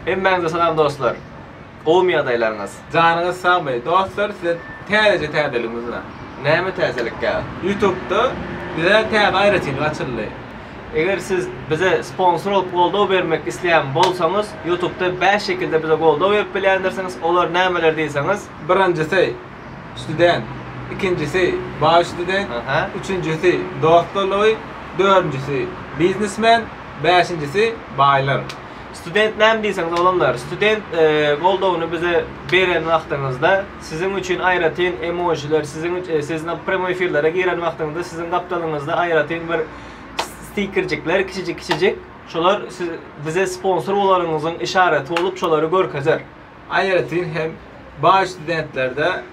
Hemmäňize salam dostlar! Gowumy ýagdaýlaryňyz? Janyňyz sagmy dostlar size täzeje täzeligimiz bilen. Näme täzelik ýa? Ýutubda bizä täze aýratynlyk açyldy. Eger siz bize sponsor bolup goldaw bermek isleýän bolsaňyz ýutubda bäş şekilde bize goldaw berip bilýändirsiňiz olar nämeler diýseňiz? Birinjisi, Student, ikinjisi, Baý student, üçünjisi, Dostlar logy, dördünjisi, Biznesmen, bäşinjisi, Baýlar. Student näme diýseň doganlar student goldawyny bize beren wagtyňyzda siziň üçin aýratyn emojiler siziň üçin siz premýoý efirlere giren wagtyňyzda siziň gapdalyňyzda aýratyn bir stikerjikler kiçijik kiçijik şolar siz bize sponsor bolaryňyzyň işareti bolup şolary görkezer. Aýratyn hem baý studentlerde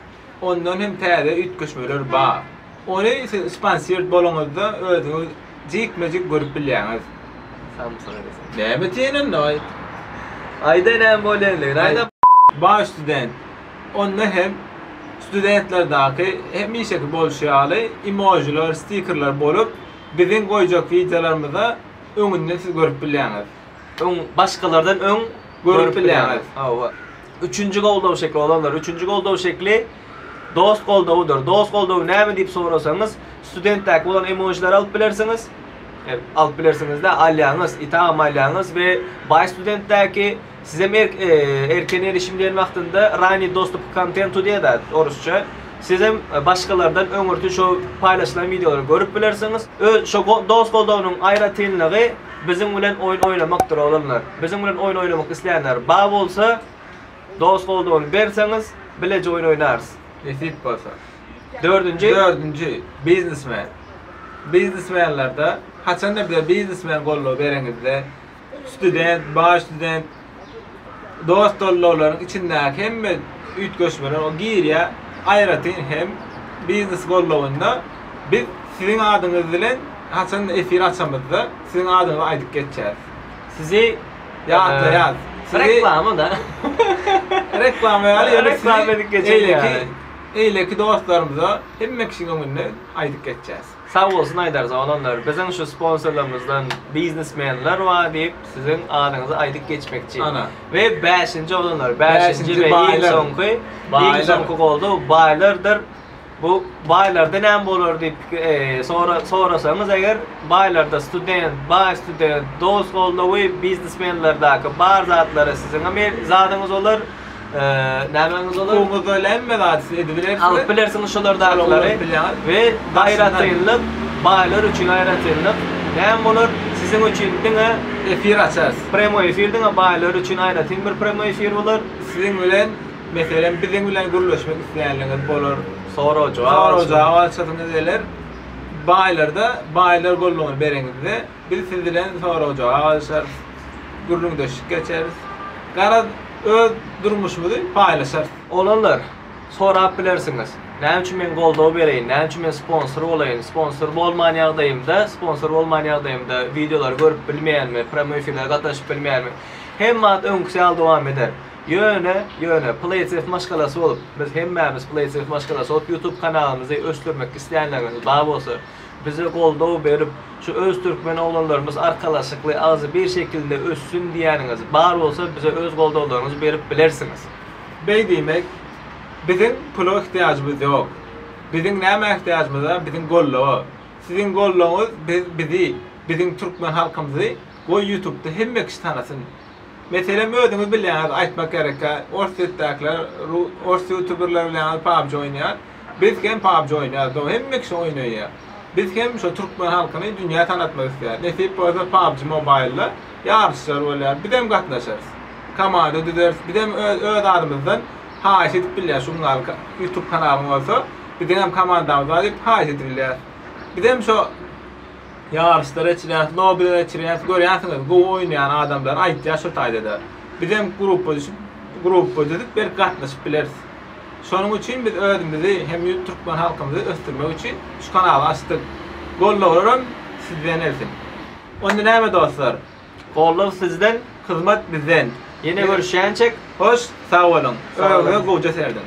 Ondan hem täze üýtgeşmeler bar. Ony siz sponsirt boluňyzda özüňiz jikme-jik görüp bilýäňiz. Näme diýen onda aýt. Aýda näme bolýandygyny aýt. Baý student. Onda hem studentlerdäki hemişeki bolşy ýaly emojiler, stikerler bolup, biziň goýjak wideolarymyza öňünden siz görüp bilýäňiz. öň başgalardan öň görüp bilýäňiz. Hawa. Üçünji goldaw şekli olanlar, üçünji goldaw şekli dost goldawudyr. Dost goldawy näme diýip sorasaňyz, studentdäki bolan emojileri alyp bilersiňiz. Hep alyp bilersiňiz-de, alýaňyz, itagam alýaňyz we baý studentdäki sizem e, erken erişim diýen wagtynda rani dostup k kontentu diýýär-de orusça. Sizem e, başgalardan öňürti şo paýlaşylan wideolary görüp bilersiňiz. Öz şo dost goldawynyň aýratynlygy biziň bilen oýun oýnamakdyr oglanlar. Biziň bilen oýun oýnamak islänler ba bolsa dos goldawyny berseňiz bileje oýun oýnarys. Nesip bolsa. Dördünji. Dördünji, biznesmen. Biznesmenlerde haçanda bize biznesmen goldawy bereňizde student, baý student, dost gollaglaryň içindäki hemme üýtgeşmeler o girýär. Aýratyn hem biznes gollagynda biz siziň adyňyz bilen haçanda efir açamyzda siziň adyňyzy aýdyp geçýäs. Sizi ýatlaýas. Sizi Reklama-da. Reklama ýaly ýöne Reklama edip geçeýin ýaly. Eýleki dostlarymyza hemme kişiň öňünde aýdyp geçýäs. Sag bolsun Aýdar Zonanlar biziň şu sponsorlarymyzdan biznesmenler bar diýip siziň adyňyzy aýdyp geçmekçi we bäşinji oglanlar bäşinji we iň soňky iň soňky goldaw baýlardyr bu baýlarda näme bolar diýip sorasaňyz eger baýlarda student baý student dost goldawy biznesmenlerdaky bar zatlary siziňem zadyňyz bolar. Nämäňiz olar? Suwuňyz öýle hemme zady siz edibilersiňiz. Alyp bilersiňiz şolardakyklary. Aýratynlyk, baýlar üçin aýratynlyk näme bolar? Siziň üçin diňe efir açarys. Premoi efir diňe baýlar üçin aýratyn bir premoi efir bolar. Siziň bilen, meselem, biziň bilen gürleşmek isleýänleriňiz bolar. Sorag-jogap. Sorag-jogap açasyňyz geler. Baýlarda, baýlar gollugyny bereňizde. Biz siz bilen sorag-jogap alyşarys, gürrüňdeşlik geçeris. Garaz, öz durmuşymyzy paýlaşarys. Oglanlar, sorap bilersiňiz, näme üçin men goldaw bereýin, näme üçin men sponsor bolaýyn, sponsor bolman ýagdaýymda, sponsor bolman ýagdaýymda wideolary görüp bilmeýänmi, prýamoý efirlere gatnaşyp bilmeýänmi? Hemme zat öňküsi ýaly dowam eder. Ýöne, ýöne, Playtest maşgalasy bolup, biz hemmämiz Playtest maşgalasy bolup, YouTube kanalymyzy ösdürmek islänleriňiz bar bolsa, Bize goldaw berip, şu öz türkmen oglanlarymyz arkalaşykly agzybir şekilde össün diýýäniňiz bar bolsa bize öz goldawlaryňyzy berip bilersiňiz. Beý diýmek, biziň pula ihtiýajymyz ýok. Biziň nämä ihtiýajymyz bar, biziň goldawa. Siziň goldawyňyz biz bizi, biziň türkmen halkymyzy goý ýutubda hemme kişi tanasyn. Meselem özüňiz bilýäňiz aýtmak gerekkä, orsýetdäkiler, ors ýutuberler bilen pabji oýnaýar. Biz hem PUBG oýnaýas doga hemme kişi oýnaýa. Biz hem şo türkmen halkyny dünýä tanatmak isleýäs. Nesip bolsa PUBG Mobile-da ýaryşlar bolýar. Bizem gatnaşarys. Komanda düzeris. Bizem öz öz adymyzdan haýyş edip bilýäs şu gün gal YouTube kanalyň bolsa biziň hem komandamyz bar diýip haýyş edip bilýäs. Bizem şo ýaryşlar eçilýäs, lobiler eçilýäs. Görýänsiňiz gowy oýnaýan adamlary aýtýas şo taýda-da. Bizem gruppa düşüp gruppa düzüp belki gatnaşyp bileris. Şonuň üçin biz özümizi hem ýurt türkmen halkymyzy ösdürmek üçin şu kanaly açdyk. Gollaglaram sizden gelsin. Onda näme dostlar. Gollag sizden, hyzmat bizden. Ýene görüşýänçek hoş sag boluň. Öňe gowja serediň.